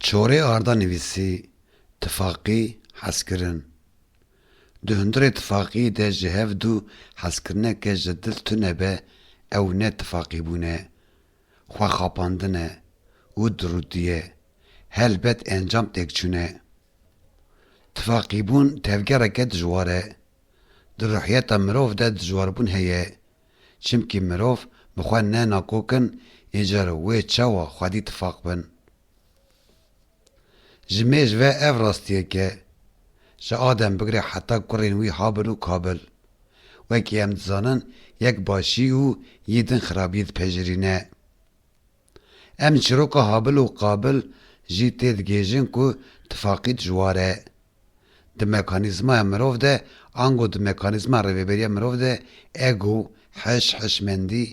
Çorê arda nivîsî tifaqî hezkirin. Di hundirê tifaqî de ji hev du hezkirineke ji dil tune be ew ne tifaqîbûn e, xwexapandin e û dirûtî ye, helbet encam têkçûn e. Tifaqîbûn tevgereke dijwar e. Di ruhiyeta mirov de dijwarbûn heye. Çimkî mirov bi xwe ne nakokin îcar û wê çawa xwedî tifaq bin. Ji mêj ve ev rastiyek e. Ji Adem bigre heta kurên wî Habil û Kabil. Wekî em dizanin yek başî û yî din xirabî dipejirîne. Em çîroka Habil û Qabil jî tê digihêjin ku tifaqît ji war e. Di mekanîzmaya mirov de ango di mekanîzma rêveberiya mirov de ego, hiş, hişmendî,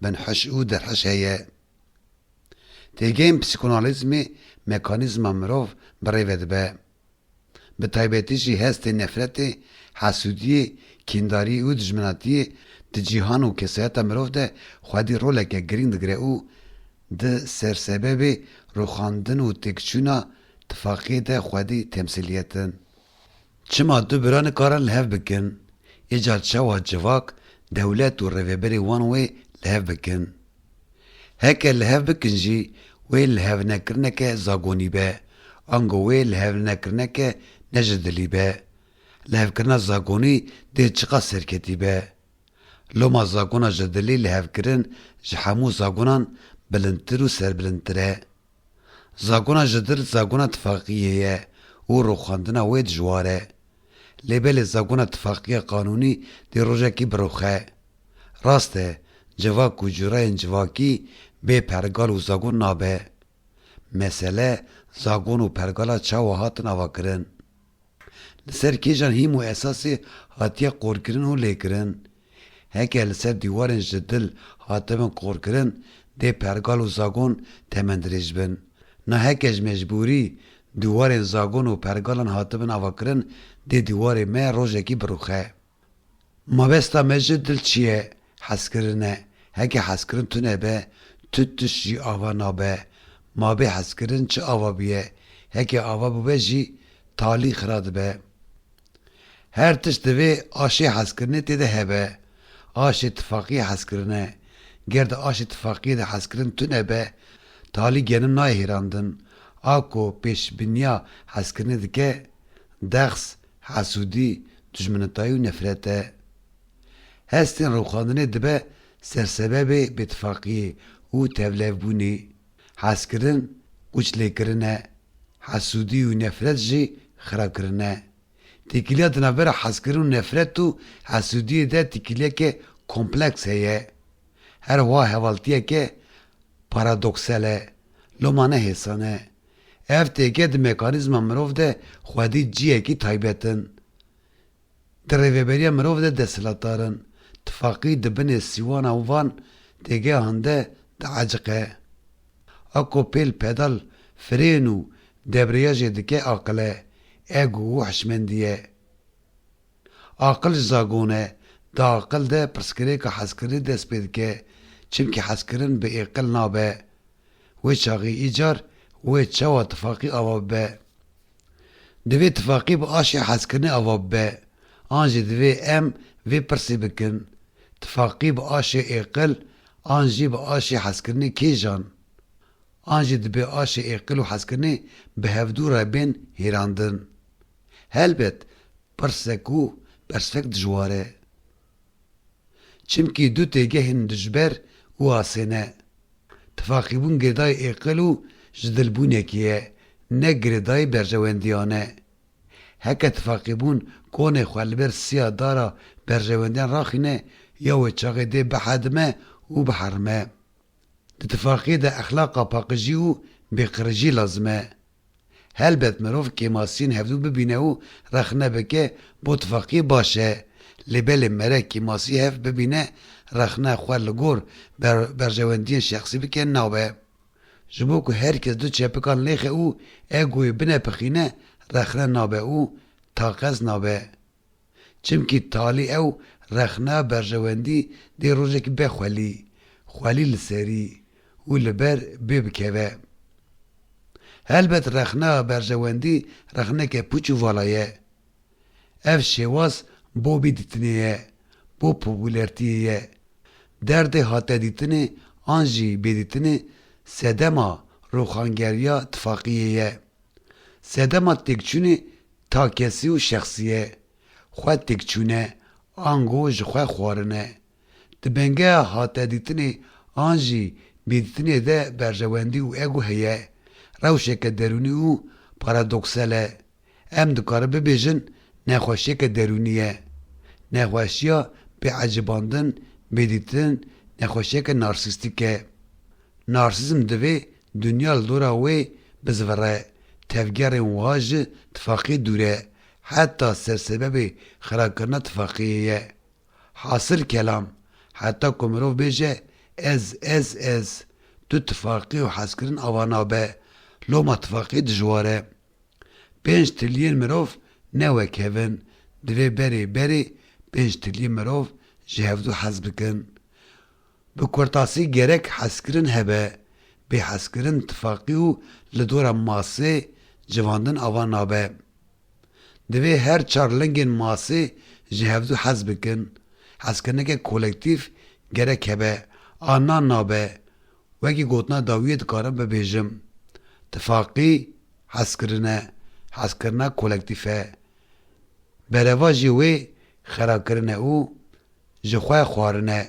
binhiş û derhiş heye. Têgehên psîkonalîzmê mekanîzma mirov bi rêve dibe. Bi taybetî jî hestê nefretê, hesûdiyê, kîndariyê û dijminatiyê di cîhan û kesayeta mirov de xwedî roleke girîng digire û di sersebebê rûxandin û têkçûna tifaqiyê de xwedî temsîliyet in. Çima du bira nikarin li hev bikin, îcar çawa civak, dewlet û rêveberê wan wê li hev bikin? Heke li hev bikin jî wê li hev nekirineke zagonî be, ango wê li hev nekirineke ne ji dilî be. Li hev kirina zagonî dê çiqas serketî be. Loma zagona ji dilî li hev kirin ji hemû zagonan bilindtir û serbilindtir e. Zagona Jdir zagona tifaqiyê ye û rûxandina wê dijwar e. Lê belê zagona tifaqiya qanûnî dê rojekî biruxe. Rast e, civak û cureyên civakî bê pergal û zagon nabe. Mesele zagon û pergala çawa hatin avakirin. li ser kêjan hîm û esasê hatiye qorkirin û lêkirin. Heke li ser dîwarên ji dil hatibin qorkirin dê pergal û zagon temen dirêj bin. Na heke ji mecbûrî dîwarên zagon û pergalan hatibin avakirin dê dîwarê me rojekî birûxe. Mabesta me ji dil çi ye? Hezkirin e. Heke hezkirin tune be, tu tişt jî ava nabe. Ma bê hezkirin çi ava bûye? Heke ava bûbe jî talî xira dibe. Her tişt divê aşê hezkirinê tê de hebe. Aşê tifaqiyê hezkirin e. Ger di aşê tifaqiyê de hezkirin tune be, talî genim nayê hêrandin. A ku pêşbîniya hezkirinê dike, dexs Hasûdî, dijminitayî û nefret e. Hestên rûxandinê dibe ser sebebê bêtifaqiyê û tevlevbûnê. Hezkirin qûçlêkirin e. Hasûdî û nefret jî xirakirin e. Têkiliya di navbera hezkirin û nefret û hasûdiyê de têkiliyeke kompleks heye. Her wiha hevaltiyeke paradoksel e. Loma ne hêsan e. Ev têke di mekanîzma mirov de xwedî ciyekî taybet in. Di rêveberiya mirov de desthilatdar in. Tifaqî di binê sîwana û van têgehan de dieciqe. Ako pêl pedal firên û debriyajê dike aqil e, ego û hişmendî ye. Aqil ji zagon e, di aqil de pirsgirêka hezkirinî dest pê dike, çimkî hezkirin bi êqil nabe, Wê çaxê îcar wê çawa tifaqî ava bibe? Divê tifaqî bi aşê hezkirinê ava bibe an jî divê em vê pirsê bikin, tifaqî bi aşê êqil an jî bi aşê hezkirinê kêjan? An jî dibê aşê êqil û hezkirinê bi hevdû re bên hêrandin? Helbet pirsek û bersfek dijwar e. Çimkî du têgehên dijber û asê ne. Tifaqîbûn girêdayê êqil û jidilbûnekê ye, ne girêdayê berjewendiyan e. Heke tifaqîbûn konê xwe li ber siya dar a berjewendiyan raxîne ya wê çaxê dê bihedime û biherime. Di tifaqê de exlaqa paqijî û bêqirrijî lazim e. Helbet mirov kêmasiyên hevdû bibîne û rexne bike bo tifaqiyê baş e. Lê belê mere kêmasî hev bibîne rexne xwe li gor berjewendiyên şexsî bike nabe. Ji bo ku her kes du çepikan lêxe û egoyê binepixîne rexne nabe û taqez nabe. Çimkî talî ew rexna berjewendî dê rojekî be xwelî, xwelî li serî û li ber bê bikeve. Helbet rexna berjewendî rexneke pûç û vala ye. Ev şêwaz bo bî dîtinê ye, bo popûlertiyê ye. Derdê hatedîtinê an jî bêdîtinê sedema rûxangeriya tifaqiyê ye. Sedema têkçûnê takesî û şexsî ye. Xwe têkçûne, ango ji xwe xwarin e. Di bengeha hatedîtinê an jî bêdîtinê de berjewendî û ego heye, rewşeke derûnî û paradoksel e. Em dikarin bibêjin nexweşiyeke derûnî ye. Nexweşiya bêecibandin, bêdîtin nexweşiyeke narsîstîk e. Narsîzm divê Dinya li dora wê bizivire, tevgerên wiha ji tifaqê dûr e, heta sersebebê xirakirina tifaqeyê ye. Hasil kelam, heta ku mirov bêje ez, ez, ez, tu tifaqê û hezkirin ava nabe, loma tifaqê dijwar e. Pênc trilyên mirov ne wek hev in, divê berê berê pênc trilyên mirov ji hevdu hez bikin. Bi kurtasî gerek hezkirin hebe, bêhezkirin tifaqî û li dora masê civandin ava nabe. Divê her çar lingên masê ji hevdu hez bikin. Hezkirineke kolektîf gerek hebe. A na nabe. Wekî gotina dawiyê dikarim bibêjim. Tifaqî hezkirin e. Hezkirina kolektîf e. Bereva jî wê xerakirin e û ji xwe xwarin e.